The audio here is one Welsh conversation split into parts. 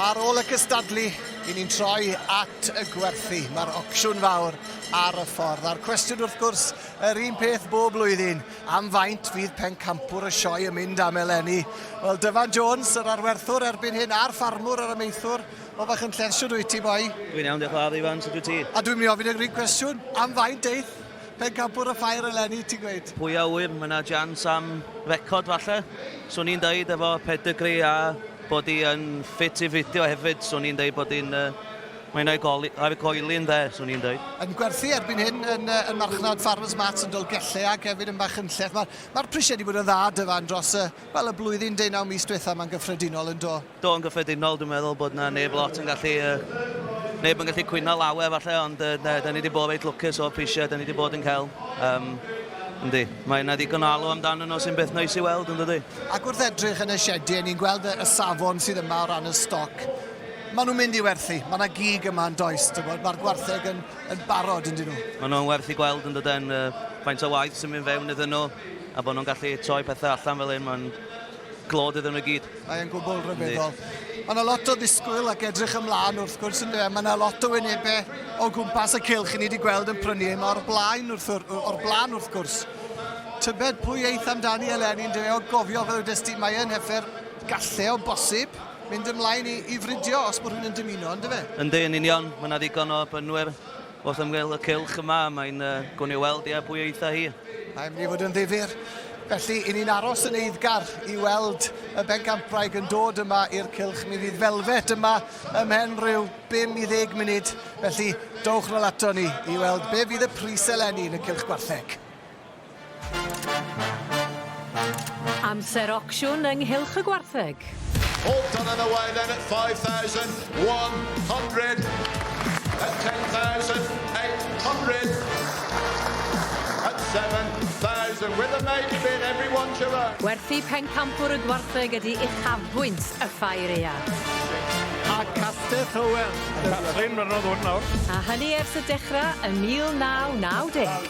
Ar ôl y cystadlu, i ni'n troi at y gwerthu. Mae'r ocsiwn fawr ar y ffordd. A'r cwestiwn wrth gwrs, yr un peth bob blwyddyn, am faint fydd pencampwr y sioe yn mynd am eleni? Wel, Dyfan Jones, yr arwerthwr erbyn hyn, a'r ffarmwr yr amaethwr, o fach yn llesiwn wyt ti, boi? Dwi'n iawn, diolch ladd, Ifan, sut wyt ti? A dwi'n mynd i ofyn yr un cwestiwn, am faint eith? Pencampwr y Ffair eleni, ti'n gweud? Pwy a ŵyr, mae yna jans am record falle. So ni'n dweud efo pedigree a bod hi yn ffit i fidio hefyd, so ni'n dweud bod hi'n... Mae yna goli, ar y coelyn dde, so ni'n dweud. Yn gwerthu erbyn hyn yn, yn marchnad Farmers Mats yn Dolgellau ac hefyd yn Machynlleth. Mae'r mae prisiau wedi bod yn dda dyfan dros y, wel, y blwyddyn 19 mis diwethaf mae'n gyffredinol yn do. Do, yn gyffredinol, dwi'n meddwl bod 'na neb lot yn gallu, neb yn gallu cwyno lawer falle, ond yy, da ni wedi bod reit lwcus o'r prisiau da ni wedi bod yn cael. Um, Yndi, mae yna ddigon o alw amdano nhw sy'n beth noes i weld, yn dydy? Ac wrth edrych yn y siedi, ni'n gweld y safon sydd yma o ran y stoc. Maen nhw'n mynd i werthu, mae yna gig yma yn does, mae'r gwartheg yn, yn barod yn dyn nhw. Maen nhw'n werth i gweld yn dydyn, uh, faint o waith sy'n mynd fewn iddyn nhw, a bod nhw'n gallu troi pethau allan fel un, mae'n Glod iddyn nhw i gyd. Mae e'n gwbl rhyfeddol. Mae yna lot o ddisgwyl ac edrych ymlaen wrth gwrs yn dweud. Mae yna lot o wynebau o gwmpas y cilch i ni wedi gweld yn prynu hyn o'r blaen wrth, o'r blaen wrth gwrs. Tybed pwy eith amdani eleni yn dweud o gofio fel ydys ti, mae yn heffer gallu o bosib mynd ymlaen i, i fridio os bod rhywun yn dymuno, yn dyfe? Yndi, yn union. Mae yna ddigon o brynwyr Wrth ymyl y cylch yma, mae'n uh, gwn i weld, ia, pwy eitha hi. Mae'n mynd i fod yn ddifur. Felly, i ni'n aros yn eiddgar i weld y bencampwraig yn dod yma i'r cylch. Mi fydd felfet yma ymhen rhyw 5 i 10 munud. Felly, dowch nôl ato ni i weld be fydd y pris eleni yn y cylch gwartheg. Amser ocsiwn yng nghylch y gwartheg. All done and away then at 5,100, at 10,800, at 7,000 with a main bid everyone to run. Gwerthu pencampwr y gwartheg ydy uchafbwynt y Ffair Eang. A Castell Hywel. Catrin, mae'n rhan o ddwrn nawr. A hynny ers y dechrau yn 1990.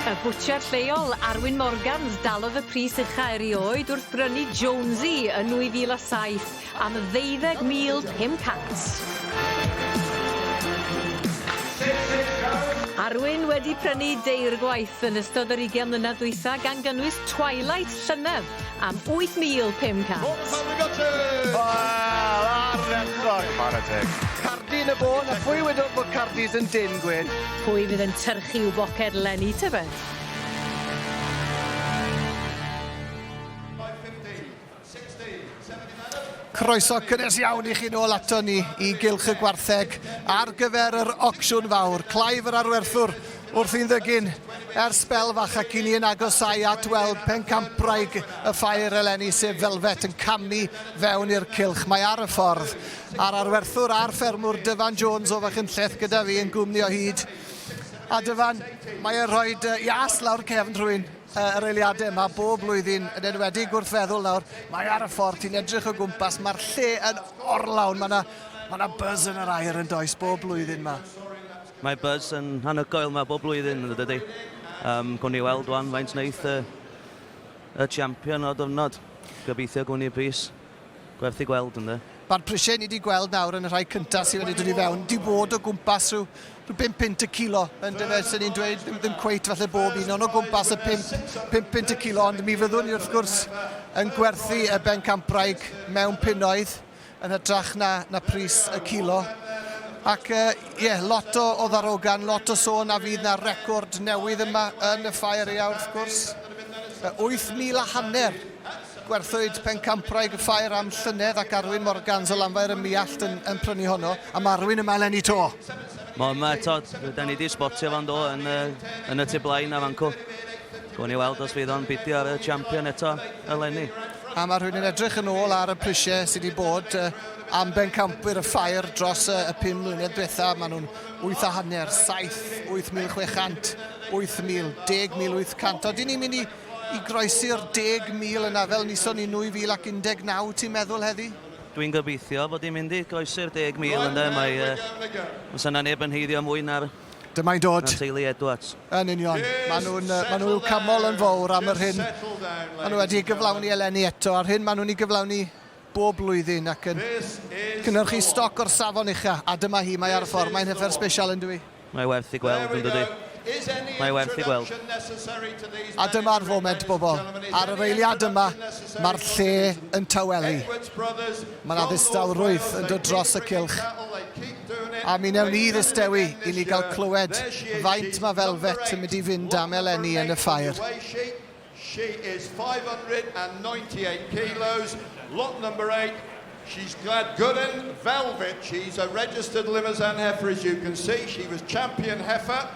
Y bwtsiar lleol, Arwyn Morgans, dalodd y pris ucha erioed wrth brynu Jonesy yn 2007 am £25,000. Arwyn wedi prynu deirgwaith yn ystod yr ugain mlynedd dwytha gan gynnwys Twilight llynedd. am 8,500. Wel, ardderchog! Chwarae teg. Cardi yn y bôn, a phwy wedodd bod Cardis yn dyn, Gwyn? Pwy fydd yn tyrchu i'w boced Lenny tybed? Croeso cynnes iawn i chi nôl ato ni i Gylch y Gwartheg ar gyfer yr ocsiwn fawr. Clive yr arwerthwr Wrth i'n ddygyn, ers sbel fach ac i ni yn agosau at weld pencampwraig y Ffair eleni sef Velvet yn camu fewn i'r cylch. Mae ar y ffordd. A'r arwerthwr a'r ffermwr Dyfan Jones o Fachynlleth gyda fi yn gwmni o hyd. A Dyfan, mae e'n rhoi ias lawr cefn rhywun yr eiliadau yma bob blwyddyn, yn enwedig wrth feddwl nawr, mae ar y ffordd, ti'n edrych o gwmpas, mae'r lle yn orlawn, mae yna ma buzz yn yr air yn does bob blwyddyn yma. Mae buzz yn anhygoel 'ma bob blwyddyn yn dydy? Yym, gwn ni weld wan faint wneith y, y champion o'r diwrnod. Gobeithio gwn ni bris gwerth i gweld ynde? Mae'r prisiau ni wedi gweld nawr yn y rhai cyntaf sydd wedi dod i fewn, di bod o gwmpas rhyw, rhyw 5 pint y kilo yn dyfe, sy'n ni'n dweud ddim, ddim cweit falle bob un, ond o gwmpas y 5, 5 pint y kilo, ond mi fyddwn ni wrth gwrs yn gwerthu y bencampwraig mewn punoedd. yn hytrach na na pris y cilo. Ac uh, yeah, lot o, o ddarogan, lot o sôn a fydd na record newydd yma yn y ffair ia wrth gwrs. 8,000 a hanner gwerthwyd pencampraig y ffair am llynedd ac Arwyn Morgans o Lanfair y Miallt yn, yn prynu honno. A mae Arwyn yma eleni to. Mae yma eto, da ni wedi spotio fan do yn, yn y tu blaen a fan cw. Gawn ni weld os fydd o'n bidio ar y champion eto eleni. A mae rhywun yn edrych yn ôl ar y prisiau sydd wedi bod uh, am bencampwyr y ffair dros uh, y 5 mlynedd diwetha. Maen nhw'n 8 a hanner, 7, 8,600, 8,000, 10,800. Oedden ni'n mynd i, i groesi'r 10,000 yna fel nison ni 2019, ti'n meddwl heddi? Dwi'n gobeithio bod ni'n mynd i groesi'r 10,000 yna. Mae uh, yna neb yn heiddio mwy na'r Dyma'n dod. Na teulu Edwards. Yn union. Maen nhw'n maen nhw camol yn fawr am yr hyn. Maen nhw wedi gyflawni eleni eto a'r hyn maen nhw'n ei gyflawni bob blwyddyn ac yn cynnyrchu stoc o'r safon ucha. A dyma hi, mae ar y ffordd. Mae'n hyfer special yn dwi. Mae werth i gweld yn dydy. Mae werth i gweld. A dyma'r foment bobl. Ar yr eiliad yma, mae'r lle yn tawelu. Mae yna ddistawrwydd yn dod dros y cylch. A mi newn ni ddistewi i ni gael clywed faint mae Velvet yn mynd i fynd am eleni yn y ffair. She is 598 kilos, lot number 8. She's Gladgwren Velvet. She's a registered Limousin heifer, as you can see. She was champion heifer.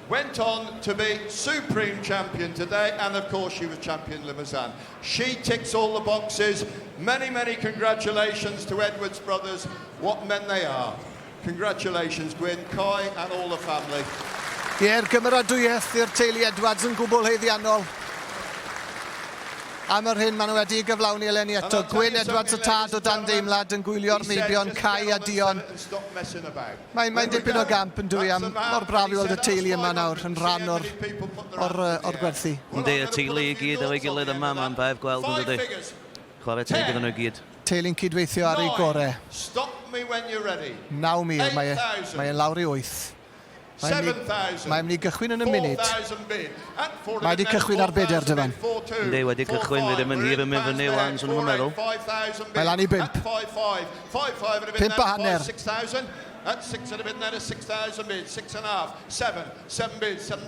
Went on to be supreme champion today and of course she was champion Limousin. She ticks all the boxes. Many, many congratulations to Edwards Brothers. What men they are. Congratulations Gwyn, Coy and all the family. Ie'r gymeradwyaeth i'r teulu Edwards yn gwbl heiddiannol am yr hyn maen nhw wedi gyflawni eleni eto. Gwyn Edwards y tad o dan deimlad yn gwylio'r meibion Cai a Dion Mae'n mae'n dipyn o gamp yn dwi am mor braf i weld y teulu yma nawr yn rhan o'r o'r yy o'r gwerthu. Yndi y teulu i gyd efo'i gilydd yma mae'n braf gweld yn dydi? Chware teg iddyn nhw i gyd. Teulu'n cydweithio ar eu gore. 9,000 mae e mae e'n lawr i 8. Mae myn' i mae myn' i gychwyn yn y munud. Mae wedi cychwyn ar beder Dyfan. Yndi wedi cychwyn fi ddim yn hir yn mynd fyny ŵan swn i'm yn meddwl. Mae lan i bump. Pump a hanner.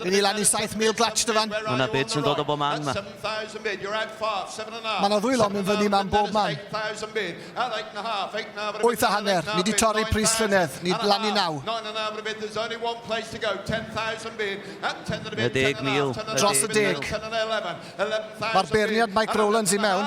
Rydyn ni lan i 7,000 glatsh dyfan. Mae yna bids yn dod o bob man yma. Mae yna ddwylo mynd fyny yma yn bob man. Wyth a hanner. Ni wedi torri pris llynedd. Ni lan i naw. 10,000. Dros y deg. Mae'r beirniad Mike Rowlands i mewn.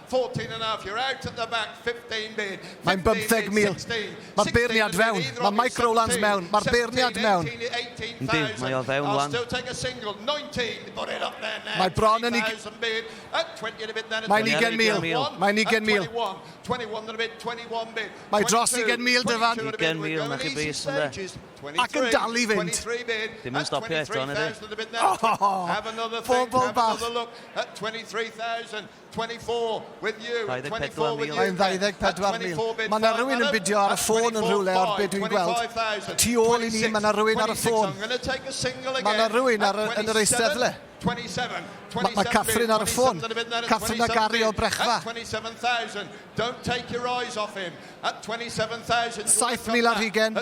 14 and half, you're out at the back, 15 bid. Mae'n 15 mil. Mae'r beirniad fewn. Mae Mike Rowlands mewn. Mae'r beirniad mewn. Yndi, mae o fewn wan. Mae bron yn ig... Mae'n 20 mil. Mae'n 20 mil. Mae dros 20 mil dyfan. 20 mil, na chi bris yn de. Ac yn dal i fynd. Dim yn stopio eto, nid i. Pobl bach. 24,000. Mae'n 24,000. Mae yna rhywun yn bidio ar y ffôn yn rhywle ar beth dwi'n gweld. Tu ôl i ni, mae yna rhywun ar y ffôn. Mae yna rhywun ar y, yn yr eisteddle. Mae, mae Catherine ar y ffôn. Catherine a Gary o Brechfa. 7,000 ar hugen.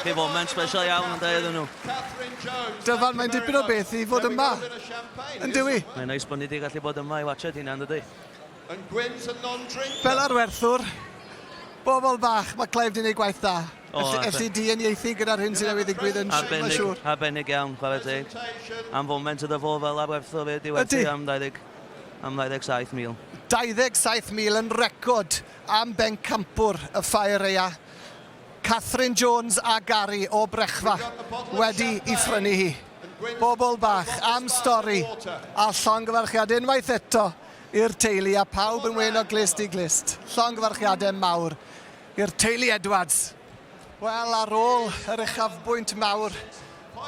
Pe bo mae'n special iawn ond da iddyn nhw. Dyfan mae'n dipyn o beth i fod yma, yn dyw i? Mae'n neis bod ni di gallu bod yma i watsiad hynna yn dydi? Fel arwerthwr, bobl bach, mae Clive di neud gwaith da. Ers i di uniaethu gyda'r hyn sydd newydd ddigwydd yn siwr. Arbennig, arbennig iawn, chwarae teg. Am foment yda fo fel arwerthwr i di werthu am 20, am 27 mil. 27 mil yn record am bencampwr y Ffair Eia. Catherine Jones a Gary o Brechfa wedi i phrynu hi. Bobl bach am stori a llongyfarchiad unwaith eto i'r teulu a pawb yn wyn o glust i glust. Llongyfarchiadau mawr i'r teulu Edwards. Wel, ar ôl yr uchafbwynt mawr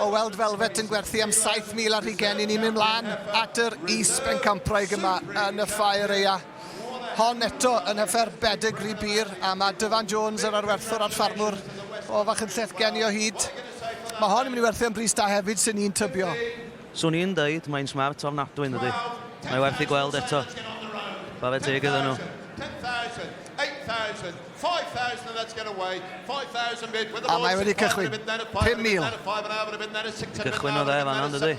O weld Velvet yn gwerthu am 7,000 ar hugen i ni'n mynd mlaen at yr is-bencampwraig yma yn y Ffair Eia. Hon eto yn hyfer bedegri bur a mae Dyfan Jones, yr arwerthwr a'r ffarmwr o Fachynlleth gen i o hyd. Mae hon yn mynd i werthu am bris da hefyd sy'n ni'n tybio. Swn i'n dweud mae'n smart ofnadwy yn dydy. Mae werth ei gweld eto. Chwarae teg iddyn nhw. A mae wedi cychwyn. 5000. Cychwynnodd e fan'na yn dydi?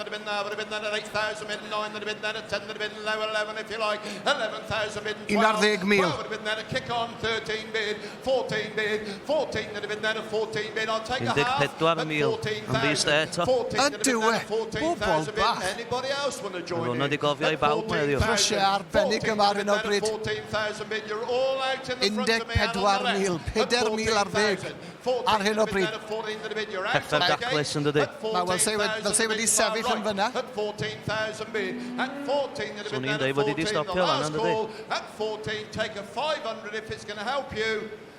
Un ar ddeg mil. Un deg pedwar mil. Yn ddi-st e eto. Ydyw e! Bobol bach! Mae hwnna 'di gofio i bawb mae heddiw. Prisiau arbennig yma ar hyn o bryd. 14,000, 4,000 ar ddeg ar hyn o bryd. Pethau'n daclus yn dydy? Mae fel se wedi, fel se wedi sefyll yn fyna. Swn i'n dweud bod hi wedi stopio fan'na yn dydy?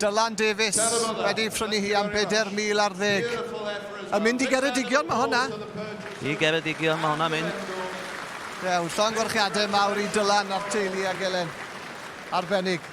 Dylan Davies wedi ei phrynu hi am bedair mil ar ddeg. Yn mynd i Geredigion mae hwnna. I Geredigion mae hwnna mynd. Dew, llongyfarchiadau mawr i Dylan a'r teulu ag Elen. Arbennig.